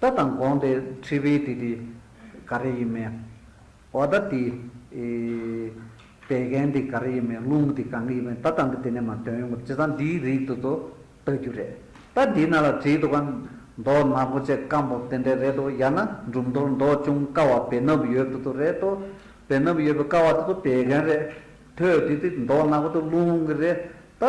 ལྟ་དང་དགོངས་ཏེ་འཁྲིད་པའི་དེ་དེ་ག་རེ་ཡིན་མིན། འོ་ད་དེ། བད་ཀན་དེ་ག་རེ་ཡིན་མིན་རླུང་དེ་གང་གི་ཡིན་མིན་ད་ལྟ་འདི་དེ་ནས་མ་སྟོན་ཡོང་གི་རེད་བྱས་ཙང་འདིའི་རིགས་དེ་ཚོ་ལྟ་རྒྱུ་རེད། ད་འདི་ན་ལ་བྲིས་འདུག་ག། མདོག་ནག་པོ་བཅས་སྐམ་པོ་དེ་འདྲས་རེད་དོ་ཡང་ན་འབྲུམ་ཐོར་མདོག་ཅུང་དཀར་བ་བེ་སྣབས་ཡོད་དེ་ཚོ་རེད་དོ། བེ་སྣབས་ཡོད་པའི་དཀར་བ་དེ་ཚོ་བད་ཀན་རེད་དོ། དེ་དེ་མདོག་ནག་པོ་དེ་རླུང་གི་རེད་དོ།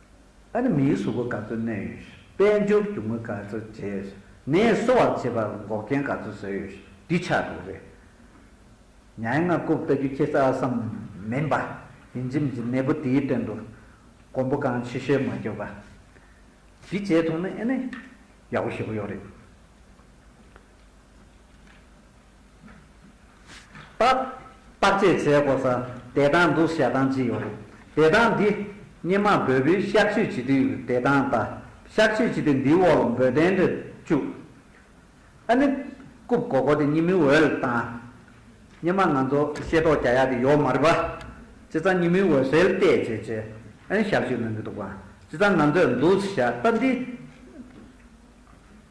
ཨ་རི་མིའི་གཟུགས་པོ་ག་ཚོད་བསྣན་ཡོད། དཔལ་འབྱོར་རྒྱུ་དངོས་ག་ཚོད་བརྗེས། ནད་གསོ་བར་བྱེད་པར་འགོག་རྐྱེན་ག་ཚོད་བཟོས་ཡོད། འདི་ཆགས་འདུག་རེད། ཉའི་མངལ་སྐུབ་བལྟ་རྒྱུ་ཁྱེད་ས་སམ། མིན་པ། ཡིན་གྱི་མི་འཛིན་ནད་འབུ་དེའི་སྟེང་དུ། གོང་བུ་གང་ཆེ་ཤོས་མ་གྱུར་པ། འདི་བྱས་ཐུབ་ན་ཨེ་ནས། ཡག་པོ་ཞེ་པོ་ཡོད་རེད། བརྟག་དཔྱད་བྱས་དགོས་ས་བདེ་ཐང་འདུ་བྱ་ཐང་ཅི་ཡོད། བདེ་ཐང་འདི་སྙེ་མ་འབོལ་བུའི་གཤག་བཅོས་བྱེད་དུས་བདེ་ཐང་དང་གཤག་བཅོས་བྱེད་དུས་འདིའི་འོག་ལ་འབོལ་གདན་རེ་བཅུག་ཨ་ནི། རྐུབ་གོ་གོ་དེ་སྙེ་མི་འོལ་དང། སྙེ་མ་ང་ཚོ་ཤེས་རྟོགས་བྱ་ཡག་དེ་ཡོག་མ་རེད་པ། སྤྱི་ཚང་སྙེ་མི་འོལ་སེལ་བལྟས་བྱས་བྱས་ཨ་ནི་གཤག་བཅོས་གནང་གི་འདུག་པ་སྤྱི་ཚང་ང་ཚོས་འདུ་བྱ་ལྟ་འདི།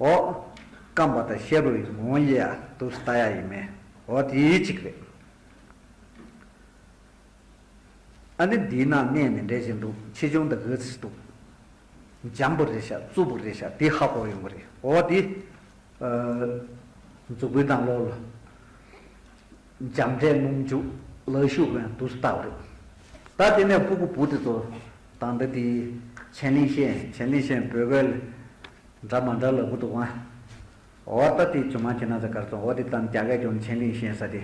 ཨོ། སྐམ་པ་དང་ཤེལ་རོ་ཡི་ངོ་བོ་དབྱེ་ཡ་དུག་སུ་ལྟ་ཡ་ཡི་མེད་འོ་དེ་གཅིག་རེད། ཨ་ནི་འདིའི་ནང་གནས་མི་འདྲ་ཞིག་འདུག་ཆེ་ཆུང་དང་གེགས་སུ་འདུག། འཇམ་པོ་རེད་ཤག་རྩུབ་པོ་རེད་ཤག་དེ་ཧ་གོ་ཡོང་གི་རེད་འོ་དེ། མཛུ་གུའི་དང་ལོ་ལོ། འཇམ་འབྲས་སྣུམ་འཇུག་ལག་ཤུག་བན་དུག་སུ་ལྟ་བ་རེད། ད་དེ་ནས་སྤུ་གུ་བུ་དེ་ཚོ་དང་འདི་དེའི། ཆན་ལིན་ཤན་ཆན་ལིན་ཤན་བོད་སྐད་ལ། འདྲ་མ་འདྲ་ལ་བུ་དུ་བང། འོ་ད་དེ་ཅུང་མ་ཁྱེད་ན་ཟ་གར་སོང་འོ་དེ་ཙམ་རྒྱ་སྐད་ཀྱང་མཆན་གླིང་ཤན་ས་དེ་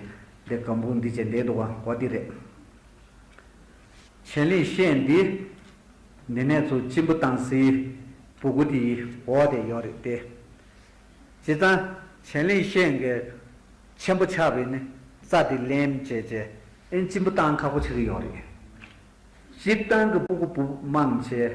དེ་གམ་བུ་འདི་བྱེད་འདེད་འདུག་བང་འོ་དེ་རེད། མཆན་གླིང་ཤན་འདི། འདི་ནས་ཚུ་གཅིན་བུ་བཏང་སི། བུ་གུ་དེ་ཡི་འོ་དེ་ཡོག་རེད་དེ། བྱས་ཙང། མཆན་གླིང་ཤན་གི། མཆན་བུ་ཆག་བས་ནི་རྩ་དེ་ལེན་བྱས་བྱས་ཨེ་གཅིན་བུ་བཏང་ཁག་པོ་ཆག་གི་ཡོག་རེད། གཅིག་བཏང་གི་བུ་གུ་བུ་དམངས་བྱས།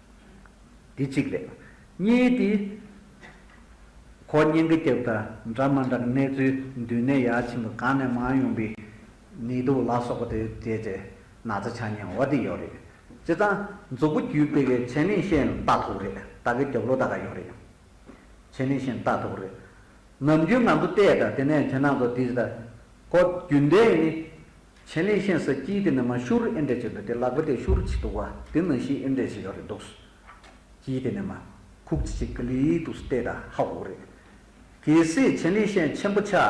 འདི་གཅིག་རེད། གཉིས་ཏེ། གོ་བརྙན་གྱི་རྒྱབ་དང་འདྲ་མ་འདྲ་གནས་ཚུལ་མདུན་ནས་ཡར་ཕྱིན་པ་གང་ནས་མང་ཡོང་པའི་ནད་དུག་ལ་སོགས་པ་དེ་བརྒྱད་ཅེ་ན་ཚ་ཆ་ཉེ་བ་དེ་ཡོད་རེད། བྱས་ཙང་མཛུབ་བུ་བརྒྱུད་སྤེལ་གྱི་བྱས་ནས་ཤེས་ན་ལྟ་ཐུབ་རེད་ད་གི་རྒྱབ་ལོ་ད་ག་ཡོད་རེད། བྱས་ནས་ཤེས་ན་ལྟ་ཐུབ་རེད། ནམ་རྒྱུན་ང་ཚོ་བལྟས་དང་དེ་ནས་དེ་ན་ཚོ་དེ་ལྟ། གོ་རྒྱུ་འདི་ནི་མཆན་ལས་ཤེས་ས་དཀྱིལ་དེ་ནི་མ་ཤུར་ཨེ་འདྲས་བྱས་འདུག་དེ་ལག་པ་དེ་ཤུར་གྱིས་འདུག་བ་དེ་ནང་བཞིན་ཨེ་འདྲས་བྱས་ཡོད་རེད་འདུག་སུ་དཀྱིལ་དེ་ནི་མ་ཁུག་ཅིག་ཅིག་གི་ལུས་དུ་སུ་བལྟས་ད་ཧ་གོ་རེད། གལ་སྲིད་མཆན་ལས་ཤེས་མཆན་པོ་ཆགས་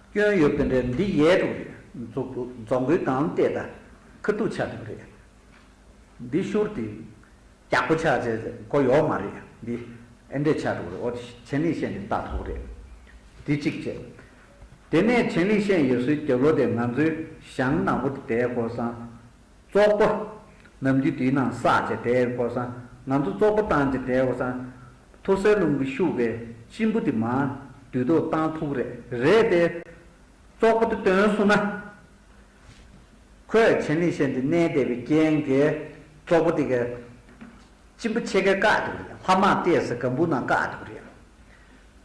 སྐྱོན་ཡོད་དེ་འདྲས་འདི་ཡལ་འགྲོ་རེད་འཛུག་རྫོང་གི་གང་བལྟས་ད་ཁུ་བསྡུ་ཆགས་འདུག་རེད། འདི་ཤུར་དེ་རྒྱག་པོ་ཆགས་བྱས་གོ་ཡོག་མ་རེད་འདི་ཨེ་འདྲས་ཆགས་འགྲོ་རེད་འོ་དེ་མཆན་ལས་ཤེས་འདི་ལྟ་ཐོག་རེད་འདི་གཅིག་བྱས་དེ་ནས་ཆན་ལིས་ཤན་ཡོད་སུའི་རྒྱབ་ལོ་དེ་ང་ཚོའི་ཞང་ནང་པོ་དེ་དེའི་སྐོར་བསང། ཙོག་པོ། ནམ་རྒྱུན་དེའི་ནང་བསགས་བྱས་དེའི་སྐོར་བསང། ང་ཚོ་ཙོག་པོ་བཏང་བྱས་དེའི་སྐོར་བསང། ཐུར་སེལ་རླུང་གི་ཤུགས་པའི་གཅིན་པོ་དེ་མ། དུས་ཐོག་བཏང་ཐུག་རེད། རེད་དེ། ཙོག་པོ་དེ་དོན་བསུ་ན། ཁོས་ཆན་ལིས་ཤན་དེ་གནས་བསྡད་པའི་རྐྱེན་གྱིས། ཙོག་པོ་དེ་གའི། གཅིན་པོ་ཕྱེད་ཀས་བཀག་ཐུག་རེད། ལྷ་དམག་ལྟས་སུ་གམ་བུ་ནང་བཀག་ཐུག་རེད།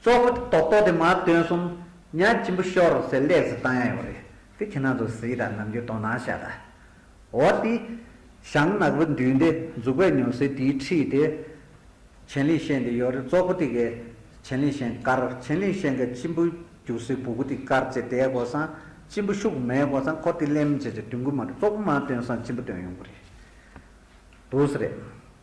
གཙོ་བོ་དེ་རྟོག་རྟོག་དེ་མ་སྟོན་གསུམ། གཉའ་སྐྱིན་པོ་ཤོར་རོ་ཟེར་ལས་ཟིལ་བཏང་ཡང་ཡོག་རེད། དེ་ཁྱེད་རྣམས་ཚོ་གཟིགས་དང་ནམ་རྒྱུན་དོ་སྣང་བྱས་དང། འོ་དེ། ཞང་ནག་པོ་མདུན་དེ་འཛུགས་པའི་ཉོ་སྲིད་དེའི་ཁྲིད་དེ། བྱན་ལིང་ཤན་དེ་ཡོག་རེད་གཙོ་བོ་དེ་གས་བྱན་ལིང་ཤན་དཀར་བྱན་ལིང་ཤན་གས་སྐྱིན་པོ་རྒྱུགས་སྲིད་བུ་གུ་དེ་དཀར་བྱེད་དེ་གོ་སང་སྐྱིན་པོ་ཤུགས་མེད་གོ་སང་ཁོ་དེ་ལེམ་བྱེད་བྱེད་བདུན་གུ་མ་རེད་གཙོ་བོ་མ་སྟོན་སང་སྐྱིན་པོ་སྟོན་ཡོང་གི་རེད་འདུག་སེ་རེད།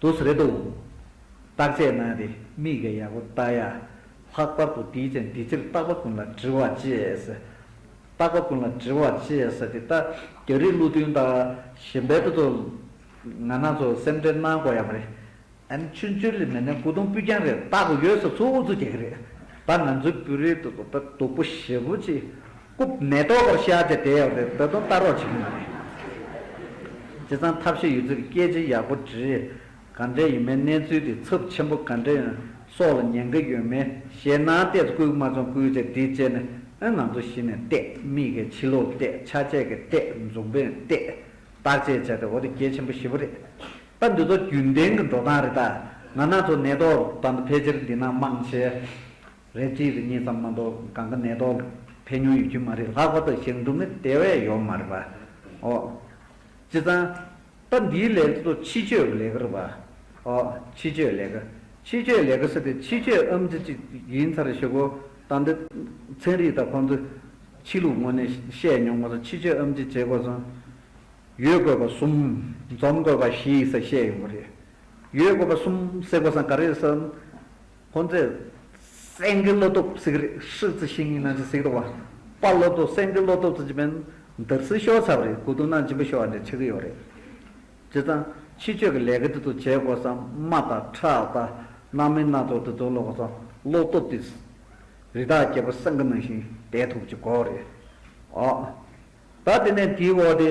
དུ་སུ་རེད་འདུག། བརྟག་དཔྱད་གནང་སྟེ་མིག་གིས་ཡག་པོ་བལྟ་ཡ། ལྷག་པར་དུ་དེའི་ཚེ་འདི་ཕྱིར་བརྟག་པ་ཀུན་ལ་དྲི་བ་ཅེས་ཟེར། བརྟག་པ་ཀུན་ལ་དྲི་བ་ཅེས་ཟེར་དེ་ལྟ། རྒྱ་རིགས་ཀླུ་མཐུན་དང་གཞན་པའི་དོ་ཚོ། ང་ནང་ཚོ་སེམས་ཁྲལ་གནང་དགོས་ཡ་མ་རེད། ཨན་ཆུན་ཆུན་ལི་མེ་ནན་སྐུ་གདུང་པུས་རྒྱང་རེད་བལྟ་དགོས་ཡོད་ས་ཚོ་འུ་ཚོ་རྒྱ་གི་རེད། ད་ང་ཚོའི་བོད་རིགས་དོ་ཚོ་ད་སྡུག་པོ་ཞེ་པོ་ཅིག་སྐུ། མེ་ཏོག་བོར་ཤ་བཅས་དེ་ཡོག་དེ་ད་དུང་ལྟ་རོགས་བྱེད་ཀྱི་མ་རེད། སྤྱི་ཚང་ཐབས་ཤེས་ཡོད་ཚུལ་གྱི་སྐད་ཆ་ཡག་པོ་བྲིས། ག་འདྲས་ཡིན་མིན་གནས་ཚུལ་དེ་ཚབས་ཆེན་པོ་ག་འདྲས་ཡིན་སོགས་ལ་ཉན་གི་ཡོད་མེད་ཞེད་སྣང་བལྟས་སུ་བསྐུལ་མ་བྱུང་བསྐུལ་བྱས་འདི་བྱས་ནས་ཨོན་ང་ཚོ་གཞི་ནས་བལྟས་མིག་གི་ཕྱི་ལོག་བལྟས་ཆ་བྱད་ཀྱི་བལྟས་འཛུམ་པོས་བལྟས། བརྟག་དཔྱད་བྱས་ཏེ་འོ་དེ་གལ་ཆེན་པོ་ཞེ་པོ་རེད། ད་འདི་ཚོ་རྒྱུན་ལྡན་གྱི་འགྲོ་སྟངས་རེད་ད། ང་ནག་ཚོ་ནད་ཐོག་ད་འདི་ཕལ་ཆེར་འདི་ན་མང་ཆེ། རེད་གཅིག་རེ་གཉིས་ཙམ་མ་གཏོགས་གང་གི་ནད་ཐོག་ཕན་ཉུང་ཡོད་ཀྱི་མ་རེད་ལྷག་པར་དུ་ཞིང་འབྲོག་མི་དེ་བས་ཡོད་མ་རེད་པ་ཨོ། ཅི་ཙང། སྐབས་འདིའི་ལས་འགུལ་དུ་ཕྱི་བསྐྱོད་ཀྱི་ལས་ཀ་རེད་པ་ཨོ། ཕྱི་བསྐྱོད་ལས་ཀ། ཕྱི་བསྐྱོད་ལས་ཀ་ཟེར་ཏེ་ཕྱི་བསྐྱོད་ཨམ་ཙི་ཅིག་ཡིན་ཚར་ཞེས་གོ། ད་འདི་ཚན་རིག་དང་ཁོང་ཚོས་ཕྱི་ལུགས་ངོ་ནས་བཤད་མྱོང་མ་སོང་ཕྱི་བསྐྱོད་ཨམ་ཙི་བྱེད་དགོས་སོང། ཡོད་དགོས་པ་གསུམ། འཛོམས་དགོས་པ་བཞི་ས་བཤད་ཡོང་གི་རེད། ཡོད་དགོས་པ་གསུམ་ཟེར་དགོས་སམ་ག་རེ་ཟེར། ཁོང་ཚོས་སེང་གེ་བློ་སྟོབས་གཟིགས་རེད་ཧྲིལ་རྩི་ཤིང་གཉིས་ནང་བཞིན་གཟིགས་འདུག་པདྨ་བློ་སྟོབས་སེང་གེ་བློ་སྟོབས་ཚོ་ཅི་བན་དར་གསིལ་ཤོར་ཚར་བ་རེད་གོ་དུང་ནང་སྦྱིན་པ་ཤོར་བ་འདྲ་འཆི་གི་ཡོད་རེད། བྱས་ཙང་ཕྱི་ཆོས་ཀྱི་ལས་ཀ་འདི་ཚོ་བྱེད་དགོས་ས་དམའ་ད་ཁྲག་ད་སྣང་མིན་སྣ་ཚོགས་འདི་ཚོ་ལོག་ས་བློ་སྟོབས་དེ་རི་དྭགས་རྒྱལ་པོ་སེང་གེ་ནང་བཞིན་བསྡད་ཐུབ་ཀྱི་གོ་རེད་ཨོ། ད་དེ་ནས་དེའི་འོག་དེ།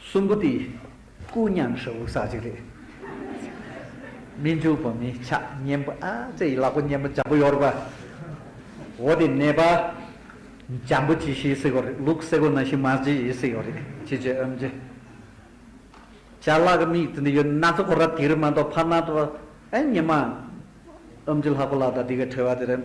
གསུམ་པོ་དེ་སྐུ་མཉམ་ཧྲིལ་བོ་ཟ་བྱེད་རེད། མི་འཇུག་པ་མི་ཆགས་གཉེན་པོ་ཨ་ཙེ་ཡི་ལག་པ་གཉེན་པོ་འཇམ་པོ་ཡོད་རེད་པ། འོ་དེ་ནད་པ་འཇམ་པོ་ཇི་ཞིག་སྲིད་གོ་རེད་ལུག་སེ་གོ་ན་ཞིག་མ་ཇི་ཞིག་སྲིད་གོ་རེད་ཅི་བྱེད་ཨོན་ཅི་བྱ་ལག་གི་མིག་དེ་འདི་ཡོད་ན་ཚོད་ཁོ་ར་དེ་རི་མ་འདོག་ཕར་ན་ཨེ་ཉི་མ། ཨོན་ཅི་ལྷ་ཁོ་ལག་ད་དེ་གའི་ཁྲེལ་བ་དེ་རེད།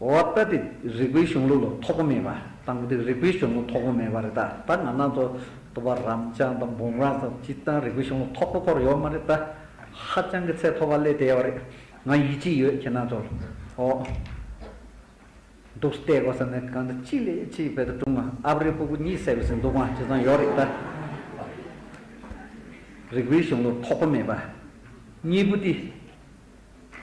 འོ་ད་དེ་རིག་པའི་གཞུང་ལུགས་ལ་ཐོགས་པ་མེད་པ་དང་པོ་དེ་རིག་པའི་གཞུང་ལུགས་ཐོགས་པ་མེད་པ་རེད་ད་ད་ང་ནང་དུ་དུ་བ་རམ་ལྕང་དང་འབུམ་རམ་སོགས་སྤྱི་བཏང་རིག་པའི་གཞུང་ལུགས་ཐོགས་པ་སྐོར་ཡོད་མ་རེད་ད་ཧ་ཅང་གི་ཚད་མཐོ་བ་ལས་དལ་བ་རེད་ང་ཡིད་ཆེས་ཡོད་ཁྱེད་ནང་དུ་འོ་འདུག་བལྟས་དགོས་ས་ནི་གང་དུ་ཅི་ལས་ཅི་བལ་དུ་ཀྲུང་ཨ་ཨ་བ་རི་སྤུ་གུ་གཉིས་ཟེར་བའི་སིན་དུ་བང་ཇི་ཙམ་ཡོད་རེད་ད་རིག་པའི་གཞུང་ལུགས་ཐོགས་པ་མེད་པ་གཉིས་པོ་དེ།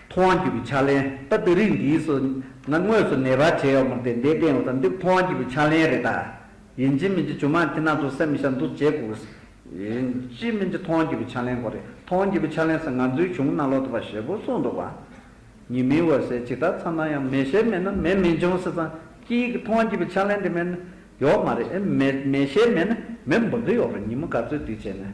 མཐོང་བ་འགྱུར་བའི་ཕྱག་ལེན། ད་ལྟ་རིགས་འདིའི་སོ་ན་དངོས་སུ་ནད་པ་བྱེད་ཡོག་མོ་དེ་འདས་བསྟན་འོ་ད་འདི་མཐོང་བ་འགྱུར་བའི་ཕྱག་ལེན་རེད་ད། ཡིན་ཅིན་མིན་གྱི་ཇོ་མང་དེ་ནང་དུ་སེམས་མི་ཤར་འདུག་བྱེད་དགོས་གོ། ཡིན་ཅིན་མིན་གྱི་མཐོང་བ་འགྱུར་བའི་ཕྱག་ལེན་གོ་རེད་མཐོང་བ་འགྱུར་བའི་ཕྱག་ལེན་ཟེར་ང་ཚོའི་གཞུང་ནང་ལོག་ཏུ་བ་ཞེས་པོ་གསུངས་འདུག་བ། ཉིན་མིན་འོད་གསལ་ཇི་ལྟར་འཚང་ན་ཡང་མེ་ཤེལ་མེད་ན་མེ་མི་འབྱུང་ཟེར་ཙང་སྐྱི་ཡི་གི་མཐོང་བ་འགྱུར་བའི་ཕྱག་ལེན་དེ་མེད་ན་ཡོག་མ་རེད་མེ་མེ་ཤེལ་མེད་ན་མེ་འབུར་དུ་ཡོག་རེད་ཉིན་མོ་ག་ཚོད་དུས་བྱས་ནས།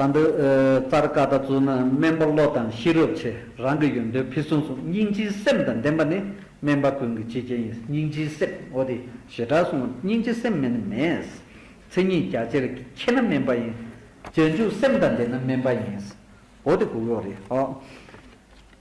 ད་འདི་ཙར་བཀའ་ལྟ་ཚུལ་ན་སྨན་པ་བློ་དང་ཤེས་རབ་ཆེ་རང་གི་ཡོན་ཏན་ཕུན་སུམ་ཚོགས་སྙིང་རྗེའི་སེམས་དང་ལྡན་པ་ནི་སྨན་པ་ཀུན་གྱི་གཅེས་རྒྱལ་ཡིན་སྙིང་རྗེའི་སེམས་འོ་དེ་ཞེ་དྲག་གསུང་ངམ་སྙིང་རྗེ་སེམས་མེད་ན་མེད། མཚན་ཉིད་རྒྱ་ཆེར་མཁྱེན་ན་སྨན་པ་ཡིན། རྗེས་འཇུག་སེམས་དང་ལྡན་ན་སྨན་པ་ཡིན། འོ་དེ་གུ་ཡོག་རེད།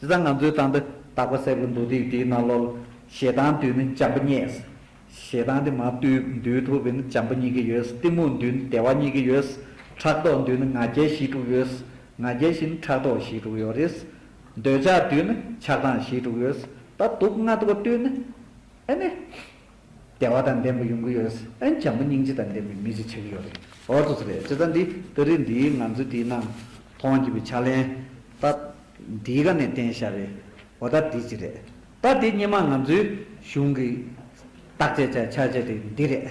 དེ་ཚ་ང་ཚོའི་ཏང་འདི་དག་པ་གསལ་པོ་འདུག་དུས་དེའི་ནང་ལོ་ལ་ཞེ་སྡང་དུས་ནི་འཇམ་པོ་རྙེད། ཞེ་སྡང་དེ་མ་བཏུལ་འདུལ་ཐུབ་པས་ནི་འཇམ་པོ་རྙེད་ཀྱི་ཡོད། གཏི་མུག་འདུལ་ནི་བདེ་བ་རྙེད་ཀྱི་ཡོད། ཕྲག་དོག་འདུལ་ནི་ང་རྒྱལ་གཞིས་དཀྲུགས་ཡོད། ང་རྒྱལ་གཞིས་ནི་ཕྲག་དོག་གཞིས་དཀྲུགས་ཡོད་རེད། འདོད་ཆགས་འདུལ་ནི་ཆགས་སྡང་གཞིས་དཀྲུགས་ཡོད། ད་དུག་ལྔ་དགུ་བཏུལ་ནི་ཨེ་ནི། བདེ་བ་དང་ལྡན་པ་ཡོང་གི་ཡོད། ཨན་བྱམས་པོ་སྙིང་རྗེ་དང་ལྡན་པའི་མི་ཞིག་ཆགས་ཀྱི་ཡོད་རེད། འོ་དོ་ཚོ་རེད་དཔྱིད་རྩ་འདི་ལྟ་རེད་འདིའི་ང་ཚོས་དེའི་ནང་མཐོང་བགྱིད་པའི་ཕྱག་ལེན། ད་འདིའི་ག་ནས་བསྟན་ཤ་རེད། འོ་ད་འདི་ཅི་རེད། ད་འདི་སྙེ་མ་ང་ཚོའི་གཞུང་གི་བརྟག་དཔྱད་བྱ་བྱ་བྱ་དེ་འདི་རེད།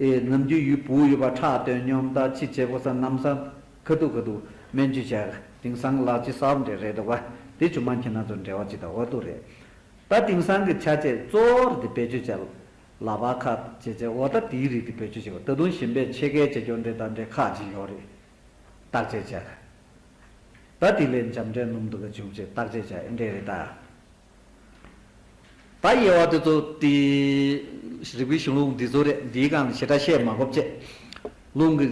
ཨེ། ནམ་རྒྱུན་ཡུལ་བུ་ཡོད་པར་ཁྲག་དོན་སྙོམས་ལྟ་ཅི་བྱེད་ཕོ་སར་ནམ་སར། ཁ་ཐུག་ཁ་ཐུག་སྨན་བཅུད་བྱས། དེང་སང་ལག་ཅི་སར་འབྲེལ་རེད་འདུག་བ། དེ་ཆུ་མ་འཁྱིལ་ན་ཚོར་འབྲེལ་བ་ཅི་དང་འོ་དོ་རེད། ད་དེང་སང་གི་བྱ་བྱེད་གཙོ་བོར་དེ་བེད་སྤྱོད་བྱས། ལག་པ་ཁ་བྱེད་བྱས་འོ་ད་དེའི་རིགས་དེ་བེད་སྤྱོད་བྱས། ད་དུང་ཞིམ་པའི་ཕྱེད་ཀའི་བྱེད་སྐྱོར་འབྲེལ་ད་འབྲེལ་ཁག་ཅིག་ཡོད་རེད། བརྟག་དཔྱད་བྱས། ད་དེ་ལས་འཇམ་འབྲས་སྣུམ་དུ་ག་བྱུང་བྱས་བརྟག་དཔྱད་བྱས་འབྲེལ་རེད་ད། ད་དབྱེ་བ་དེ་ཚོ་དེའི་རིག་པའི་གཞུང་ལུགས་འདི་ཚོ་རེད་འདིའི་སྒང་ལ་ཞེ་དྲག་བཤད་མ་སྤོབས་བཅས། རླུང་གི།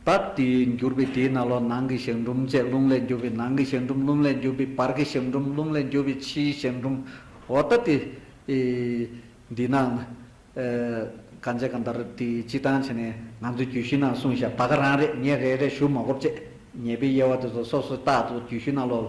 ད་དེའི་འགྱུར་བས་དེའི་ན་ལོ་ནང་གི་ཞག་འབྲུམ་བཅས་རླུང་ལས་འགྱུར་བས་ནང་གི་ཞག་འབྲུམ་རླུང་ལས་འགྱུར་བས་བར་གྱི་ཞག་འབྲུམ་རླུང་ལས་འགྱུར་བས་ཕྱིའི་ཞག་འབྲུམ། འོ་ད་དེ། འདི་ནང་ན། གང་བྱས་གང་ལྟར་དེ་སྤྱི་བཏང་བྱས་ནས་ང་ཚོའི་རྒྱུད་བཞི་ནང་གསུངས་བཞག་ད་ག་རང་རེད་ངས་རེད་རེད་ཞུ་མ་སྤོབས་བཅས་ཉེས་པའི་དབྱེ་བ་དེ་ཚོ་སོ་སོའི་རྟགས་ཐོག་རྒྱུད་བཞི་ན་ལོ་ལ།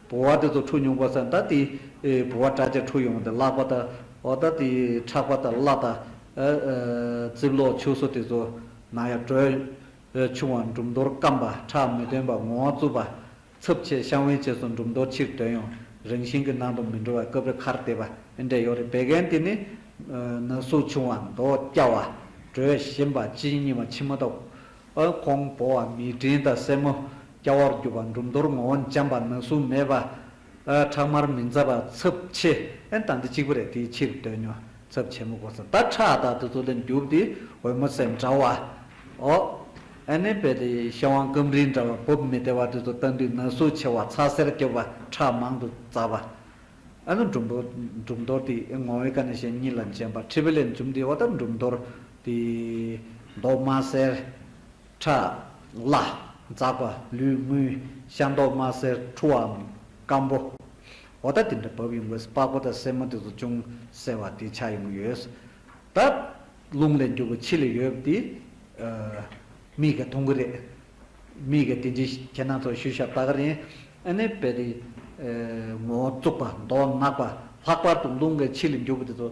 བུ་བ་དེ་ཚོ་འཁྲུག་མྱོང་པ་སེམས་ད་དེ་བུ་བ་དྲག་ཅིག་འཁྲུག་ཡོང་དེ་བརླག་པ་ད་འོ་ད་དེ་ཁྲག་པ་དང་བརླག་ད་ཨ་རྩིབ་ལོག་ཕྱུགས་སོ་དེ་ཚོ་ནང་ཡར་བྲོས། ཆུང་བ་འབྲུམ་རྡོར་སྐམ་པ་ཁྲག་མི་ཐོན་པ་ངོ་བོང་རྩུབ་པ། འཚུབ་ཆེ་ཤམ་བྷེ་བྱས་སོ་འབྲུམ་རྡོར་ཕྱིར་དོན་ཡང་རིང་ཞིང་གི་ནང་དུ་མི་འགྲོ་བ་སྐབས་རེ་ཁར་བལྟས་པ་ཨེ་འདྲས་ཡོད་རེད་བད་ཀན་དེ་ནི་ན་ཟུག་ཆུང་བ་མདོག་སྐྱ་བ་བྲོས་ཞིམ་པ་ཅི་ཡིན་སྙིང་བ་མཆི་མ་དང་ཨ་ཀོང་བོ་བ་མི་བྲིན་དང་སྲས་མོ་སྐྱ་བོར་གྱུར་པ་འབྲུམ་རྡོར་ངོ་བོ་འཇམ་པ་ན་ཟུག་མེད་པ། ཁྲག་མར་མི་འཛའ་བ་ཚབ་ཆེ་ཨན་དང་འདི་གཅིག་པུ་རེད་དེའི་ཕྱིར་དོན་ཉོ་ཚབ་ཆེན་མོ་གོ་ས་ད་ཁྲག་དང་དུ་ཚོ་ལས་འགྱུར་དེ་འོལ་མོ་ཟས་འདྲ་བ་ཨོ་ཨན་ནི་བལ་དེ་ཤ་བང་སྐམ་རིལ་འདྲ་བ་བུབ་མི་བདེ་བ་དུ་ཚོ་བལྟ་འདུས་ན་ཟུག་ཆེ་བ་ཚ་སེར་སྐྱོ་བ་ཁྲག་མང་དུ་འཛའ་བ་ཨན་ནོ་འབྲུམ་རྡོར་འདི་ངོ་བོའི་ཀ་ནས་ཤེས་གཉིས་ལ་འཇམ་པ་ཁྲི་བི་ལས་འཛུམ་དེའི་འོ་ད་འབྲུམ་རྡོར། དེ་མདོག་དམར་སེར། ཁྲག། ལ། འཛག་པ། ལུས་དངུལ། ཤ་མདོག་དམར་སེར་འཁྲུ་བའམ། སྐམ་པོ། འོ་ད་དེ་འདྲ་བབས་ཡོང་གི་སྤགས་པོ་དང་སེན་མོ་དེ་ཚོ་ཅུང་སེར་བ་དེ་ཆགས་ཡོང་གི་ཡོད། ད། རླུང་ལས་འགྱུར་བ་ཕྱི་ལ་ཡོད་པ་དེ། མིག་གིས་མཐོང་གི་རེད། མིག་གིས་དེ་འདྲའི་ཁྱེད་རྣམས་ཚོ་ཤུལ་བཞག་ལྟ་གི་རེད། ཨ་ནེ་བས་དེ། ངོ་བོ་བཙུགས་པ་མདོག་ནག་པ་ལྷག་པར་དུ་རླུང་གིས་ཕྱི་ལ་འགྱུར་བ་དེ་ཚོ།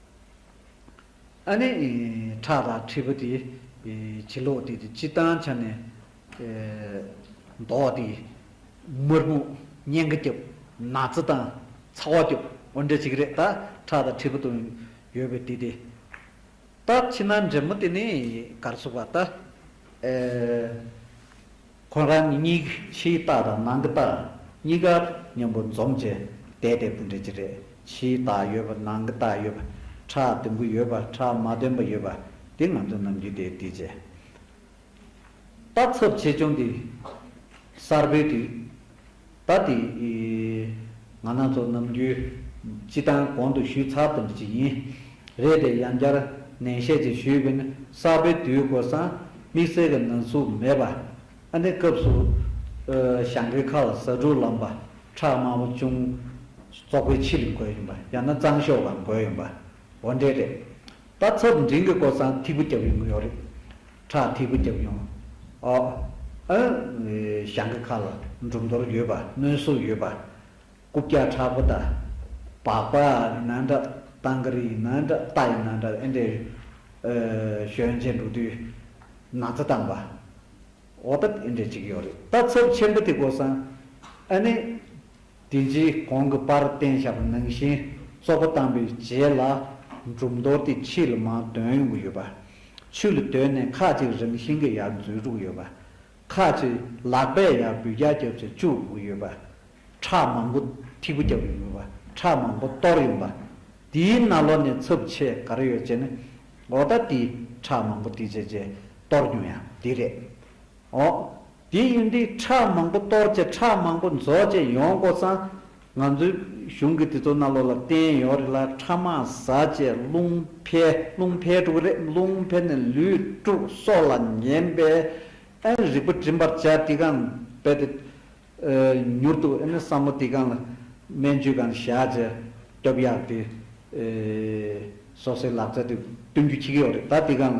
ཨ་ནི། ཁྲག་དང་ཁྲིད་པོ་དེ། བྱི་ལོག་དེ་དེ་ཅི་དང་ཆ་ནས། མདོག་དེ། དམར་སྨུག། གཉན་གི་སྐྱབས། ན་ཚ་དང། ཚ་བ་སྐྱོབས། འོ་འདྲ་ཅིག་རེད་ད། ཁྲག་དང་ཁྲིད་པོ་དང། ཡོད་པའི་དེ་དེ། ད། ཕྱི་ནང་འདྲེ་མོ་དེ་ནི། གར་སོགས་པ་ད། ཁོ་རང་གཉིས་ཀྱི་ཕྱིའི་རྟགས་དང་ནང་གི་རྟགས་གཉིས་ཀ་མཉམ་པོ་འཛོམས་ཀྱི་བསྡད་པའི་སྤུན་འདྲེ་གཅིག་རེད། ཕྱིའི་རྟགས་ཡོད་པ་ནང་གི་རྟགས་ཡོད་པ་ཁྲག་བདུན་པོ་ཡོད་པ་ཁྲག་མ་བདུན་པ་ཡོད་པ་འདི་ང་ཚོ་ནམ་རྒྱུན་དེའི་དུས་བྱེད། རྟགས་ཚབས་ཆེ་ཆུང་འདི་གསར་སྦོལ་དུས། ད་དེ། ང་ནག་ཚོགས་ནམ་རྒྱུན། སྤྱི་བཏང་གོང་དུ་ཞུས་ཚར་ཐུབ་ཅིག་ཡིན། རེད་དེ་ཡང་བསྐྱར་ནན་བཤད་ཅིག་ཞུས་དགོས་ན་གསར་པའི་དུས་སྐོར་སང་དམིགས་བསལ་གི་ན་ཟུག་མེད་པ། ཨ་ནེ་སྐབས་སུ། ཞང་གི་ཁ་ལ་ཟ་འབྲུག་ལམ་པ་ཁྲག་དམར་པོ་ཅུང། ཙོག་པའི་ཕྱི་ལ་འགོས་ཡོང་པ་ཡང་ན་གཙང་ཤོག་ལ་འགོས་ཡོང་པ། འོ་འདྲེ་རེད། ད་ཚོད་འབྲིང་གི་སྐོར་ཚང་ཐིག་པོ་བརྒྱབ་ཡོང་གི་ཡོད་རེད། ཁྲག་ཐིག་པོ་བརྒྱབ་ཡོང། ཨོ། ཨ། ཞང་གི་ཁ་ལ་འབྲུམ་རྡོར་ཡོད་པ་གནོན་གསོ་ཡོད་པ། རྐུབ་བཀྱག་ཁྲག་པོ་དང། བག་པ་ཡིན་ན་འདྲ། སྟང་ཀ་རི་ཡིན་ན་འདྲ་རྟ་ཡིན་ན་འདྲ་ཨེ་འདྲའི། ཞོན་ཆེན་འགྲོ་དུས་ན་ཚ་དམ་པ། འོ་ད་ཨེ་འདྲའི་བྱེད་ཀྱི་ཡོད་རེད། ད་ཚོད་ཆེན་པོ་དེ་སྐོར་ཚང། ཨ་ནི། དེ་རྗེས་གོང་གི་པར་བསྟན་བྱ་བ་ནང་བཞིན་གཙོ་པོ་དམ་པའི་རྗེས་ལ་འགྲུབ་མདོར་དེ་ཕྱི་ལ་མང་དོན་ཡོང་གི་ཡོད་པ། ཆུ་ལ་དོན་ནི་ཁ་ཅིག་རང་བཞིན་གྱི་ཡར་འཛུལ་དྲུག་ཡོད་པ། ཁ་ཅིག་ལག་པས་ཡར་འབུད་བརྒྱ་བརྒྱ་བྱེད་བཅུ་དགུ་ཡོད་པ། ཁྲག་མང་པོ་ཐིགས་པོ་རྒྱབ་ཡོང་གི་པ་ཁྲག་མང་པོ་གཏོར་ཡོང་པ། དེའི་སྣ་ལོ་ནས་འཚུབ་ཆས་ག་རེ་ཡོད་ཅེ་ན། འོ་ད་དེས་ཁྲག་མང་པོ་དེ་བྱས་རྗེས་གཏོར་མྱོང་ཡང་དེ་རེད། ཨོ། དེ་ཡིན་དུས་ཁྲག་མང་པོ་གཏོར་བཅས་ཁྲག་མང་པོ་རྫོགས་བཅས་ཡོང་དགོས་ཙང། ང་ཚོའི་གཞུང་གི་དེ་ཚོ་སྣ་ལོ་ལ་བསྟན་ཡོད་རེད་ལ་ཁྲག་མང་བཟའ་བཅས་རླུང་འཕེལ་རླུང་འཕེལ་དཀྲུག་གི་རེད་རླུང་འཕེལ་ནས་ལུས་དཀྲུག་སྲོག་ལ་ཉེན་པས། ཨེ་ནི་རིག་པ་བྲིན་པར་བྱ་དེ་གང་རྦད་དེ། མྱུར་དུ་ཨེ་ནི་བསམ་བློ་དེ་གང་ལ་སྨན་བཅོས་གང་བྱ་བཅས་སྟོབས་ཡག་དེ། སོ་སོའི་ལག་རྩལ་དེ་བསྟུན་རྒྱུ་ཁྱི་གི་ཡོད་རེད་ད་དེ་གང་ལ།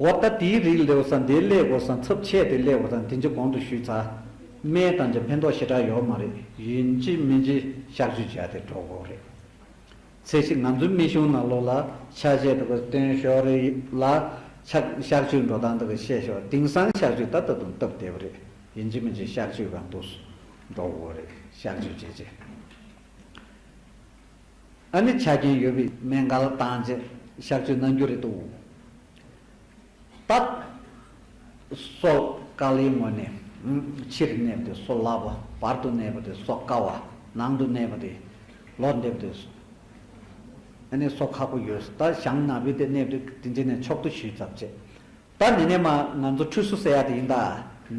བ་ལྟ་དེའི་རིགས་ལེའུ་ས་འདིའི་སླད་གོ་ས་ཚབས་ཆད་དེ་སླད་གོ་ས་འདི་འཇི་གོང་དུ་ཞུས་ཚ། མན་དང་འཇ་ཕན་ཐོག་ཞེ་དྲག་ཡོག་མ་རེད། ཡིན་གཅིག་མིན་གཅིག་བཤག་བཅོས་བྱས་ཏེ་འགྲོ་དགོས་རེད། ཚེ་ཞིག་ང་ཚོའི་མི་གཞུང་ནང་ལོག་ལ་ཆ་བྱད་དེ་གོ་སྟོན་ཞོག་རེད་ལ། ཆག་བཤག་བཅོས་འགྲོ་སྟངས་དེ་གོ་བཤད་ཞོག་དིང་སང་བཤག་བཅོས་ད་ད་དུང་སྟབས་བདེ་བོ་རེད། ཡིན་གཅིག་མིན་གཅིག་བཤག་བཅོས་གང་འདུག་སུ་འགྲོ་དགོས་རེད་བཤག་བཅོས་བྱས་རྗེས། ཨ་ནི་ཆ་རྐྱེན་ཡོད་པའི་མེ་མགར་བཏང་རྗེས་གཤགས་བཅོས་གནང་རྒྱུ་རེད་འདུག་སྟབས། སོག་དཀར་ལའི་ངོས་ནས་ཕྱིར་གནས་པ་དེ་སོག་ལྭ་བ་བར་དུ་གནས་པ་དེ་སོག་དཀར་བ་ནང་དུ་གནས་པ་དེ་ལོག་འདེབས་དེ་ཨ་ནི་སོག་ཁག་པོ་ཡོད་ད་ཞང་ནག་པོའི་དེ་གནས་པ་དེ་དེ་འདྲི་ནས་ཆོག་ཏུ་ཞུས་ཙབ་བྱས་ད་ནི་ནས་མ་ང་ཚོ་ཁྲུས་གསོ་ཟེར་ཡག་དེ་ཡིན་ད་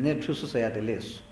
ནས་ཁྲུས་གསོ་ཟེར་ཡག་དེ་ལས་སོ།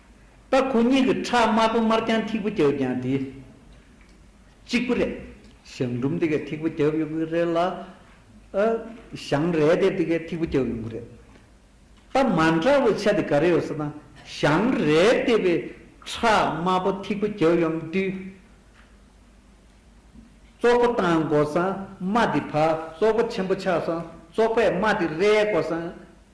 ད་ཁོ་གཉིས་ཀྱི་ཁྲག་དམར་པོ་དམར་རྐྱང་ཐིགས་པོ་རྒྱབ་ཀྱང་དེ་གཅིག་པུ་རེད། ཞང་འབྲུམ་དེ་གའི་ཐིགས་པོ་རྒྱབ་ཡོང་གི་རེད་ལ། ཞང་རལ་དེ་དེ་གའི་ཐིགས་པོ་རྒྱབ་ཡོང་གི་རེད། ད་མ་འདྲ་བའི་ཆ་དེ་ག་རེ་ཡོད་ཟེར་ན། ཞང་རལ་དེ་བས་ཁྲག་དམར་པོ་ཐིགས་པོ་རྒྱབ་ཡོང་དུས། ཙོག་པུ་བཏང་དགོས་སམ་མ་དེ་བར་ཙོག་པུ་ཆེན་པོ་ཆགས་སམ་ཙོག་པས་མ་དེ་རལ་དགོས་སམ།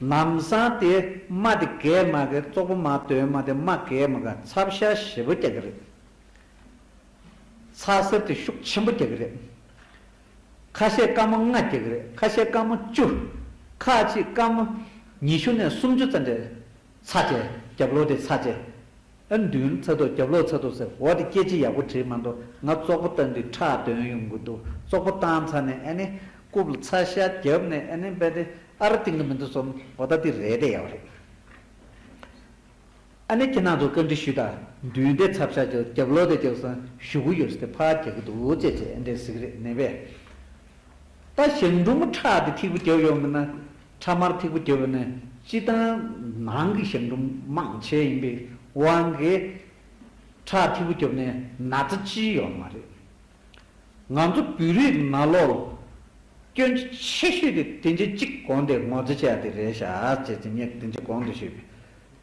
ལམ་བཟང་དེ་མ་དེ་རྒས་མ་རྒས་བཙོག་པོ་མ་དོན་མ་དེ་མ་རྒས་མ་རྒས་ཚབ་ཤ་ཞེ་པོ་རྒྱག་གི་རེད། ཚ་གསེར་དེ་ཤུགས་ཆེན་པོ་རྒྱག་གི་རེད། ཁ་ཤས་དཀར་མོ་ལྔ་རྒྱག་གི་རེད་ཁ་ཤས་དཀར་མོ་བཅུ། ཁ་ཅིག་དཀར་མོ་ཉི་ཤུ་ནས་སུམ་ཅུ་ཙམ་རེད། ཚ་བཅས་རྒྱབ་ལོ་དེ་ཚ་བཅས། ཨ་མདུན་ཚ་ཐོག་རྒྱབ་ལོག་ཚ་ཐོག་ཟེར་བོ་དེ་སྐད་ཅིག་ཡག་པོ་བྲིས་མ་འདུག་ང་ཙོག་པོ་བཏང་དུས་ཁྲག་འདོན་ཡོང་གི་འདུག་ཙོག་པོ་བཏང་ཚར་ནས་ཨ་ནི་རྐུབ་ལ་ཚ་ཤ་རྒྱབ་ནས་ཨ་ནི་འབད་དེ་ཨ་ར་གཏིང་གི་མི་འདུག་སོམ་བོ་ད་དེ་རེད་དེ་ཡག་པོ་རེད། ཨ་ནི་ཁྱེད་རྣམས་ཚོ་བཀའ་འདྲི་ཞུས་དང་མདུན་དེ་ཚ་ཕྱག་རྒྱབ་རྒྱབ་ལོག་དེ་རྒྱབ་སང་བཞུགས་གི་ཡོད་ཟེར་དེ་ཕར་རྒྱག་གི་འདུག་ཅེས་ཅེས་ཨ་འདྲེ་ཟེར་གི་རེད་ནད་པས་ད་ཞང་འབྲུག་མོ་ཁྲག་དེ་ཐིག་པོ་རྒྱབ་ཡོང་གི་ན། ཁྲ་དམར་ཐིགས་པོ་སྐྱེ་བོ་ནི་སྤྱི་བཏང་ནང་གི་ཞབས་འབྲུམ་མང་ཆེ་ཡིན་པའི་དབང་གིས། ཁྲ་ཐིགས་པོ་སྐྱོབ་ནས་ན་ཚ་ཅི་ཡོད་མ་རེད། ང་ཚོ་བོད་རིགས་ན་ལོག་སྐྱོན་ཆེ་ཤོས་དེ་དེ་འདྲ་གཅིག་གོང་དེ་ངོ་ཚ་བྱས་ཏེ་རེད་ཤག་ཅེས་ཅི་སྙེད་དེ་འདྲ་གོང་དུ་ཞུས་པས།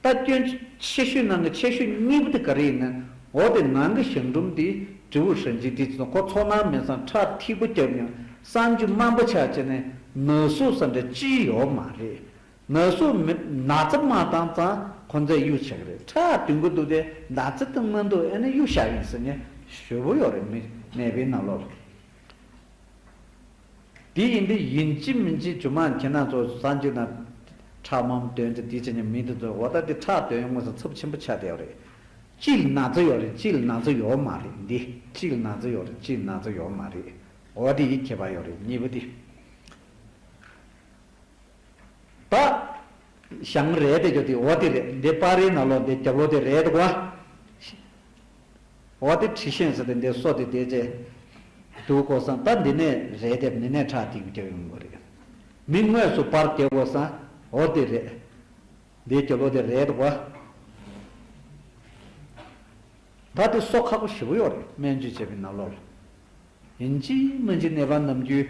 ལྟ་སྐྱོན། ཆེ་ཤོས་ནང་གི་ཆེ་ཤོས་གཉིས་པོ་དེ་ག་རེ་ཡིན་ན། འོ་དེ་ནང་གི་ཞང་འབྲུམ་དེས་དྲི་བོ་ཧྲན་ཅིག་དྲིས་སོང་ཁོ་ཚོ་ནང་མི་ཚང་ཁྲག་ཐིགས་པོ་རྒྱབ་ཀྱང་གསང་རྒྱུ་དམའ་འབོ་ཆགས་བྱས་ནས་ནག་གསུག་ས་འདྲ་ཅི་ཡོད་མ་རེད། ནག་གསུག་མི་ནག་རྩི་མ་བཏང་ཙང་ཁོ་ཚས་གཡུག་ཆགས་ཀྱི་རེད་ཁྲག་བསྟུན་གི་འདུག་དེ་ནག་རྩི་བཏུང་མ་འདུག་ཨེ་ནས་གཡུག་ཤག་ཡིན་ཟེར་ནས་ཞོལ་པོ་ཡོག་རེད་མི་ནད་པའི་ནག་ལོག་རེད། དེ་ཡིན་འདི་ཡིན་ཅི་མིན་ཅི་བྱུང་མ་མཁྱེན་ན་ཚོ་ས་འཇིག་དང། ཁྲག་འམ་དོན་དེ་དེ་བྱས་ཉམས་མིན་དེ་ཚོ་འོ་ད་དེ་ཁྲག་དོན་དངོས་སུ་ཚབས་ཆེན་པོ་ཆགས་བསྡད་ཡོད་རེད། ཅི་ལ་ན་ཚོ་ཡོད་རེད་ཅི་ལ་ན་ཚོ་ཡོད་མ་རེད་འདི་ཅི་ལ་ན་ཚོ་ཡོད་རེད་ཅི་ལ་ན་ཚོ་ཡོད་མ་རེད་འོ་དེ་ཡིད་ཁྱེད་པ་ཡོད་རེད་གཉིས་པོ་དེ། ད། ཞང་རེད་དེ་ཀྱོ་དེ་འོ་དེ་རེད་འདི་པར་རིས་ན་ལོ་འདི་རྒྱབ་ལོ་དེ་རེད་དེ་ཀོ། འོ་དེ་ཁྲི་ཤེན་ཟེར་དེ་འདི་སོ་དེ་དེ་ཅེས། འདུག་ཀོ་སང་ད་འདི་ནས་རེད་དེ་མི་ནས་ཁྲག་ཐིག་རྒྱབ་ཡོང་གོ་རེད། མི་དངོས་སུ་པར་དེ་ཀོ་སང་འོ་དེ་རེད། འདི་རྒྱབ་ལོ་དེ་རེད་དེ་ཀོ། ད་དེ་སོ་ཁག་པོ་བཞི་པོ་ཡོག་རེད་སྨན་བཅོས་བྱས་པའི་ན་ལོ་ལ། ཡིན་གཅིག་སྨན་གྱི་ནད་པ་ནམ་རྒྱུན།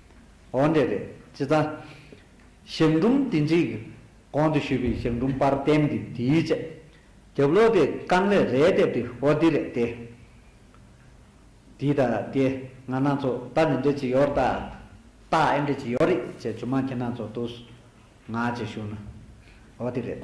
ཨོ་འདྲས་རེད་ཅི་ཙང། ཞབས་འབྲུམ་དེ་འཇིག། གོང་དུ་ཞུས་པའི་ཞབས་འབྲུམ་པར་བསྟན་འདི་དེའི་ཆེད། རྒྱབ་ལོག་དེ་རྐང་ལས་རས་བཏེབ་དེ་ཨོ་འདི་རེད་དེ། དེ་ད་དེ་ང་སྣ་ཚོ་ད་ནི་འདྲེ་ཅི་ཡོར་ད། ད་ཨེ་འདྲེ་ཅི་ཡོར་རིག་ཅེས་ཇུ་མ་ཁྱེད་སྣ་ཚོ་དུ་སུ། ང་ཅེས་ཞུ་ན། ཨོ་དེ་རེད།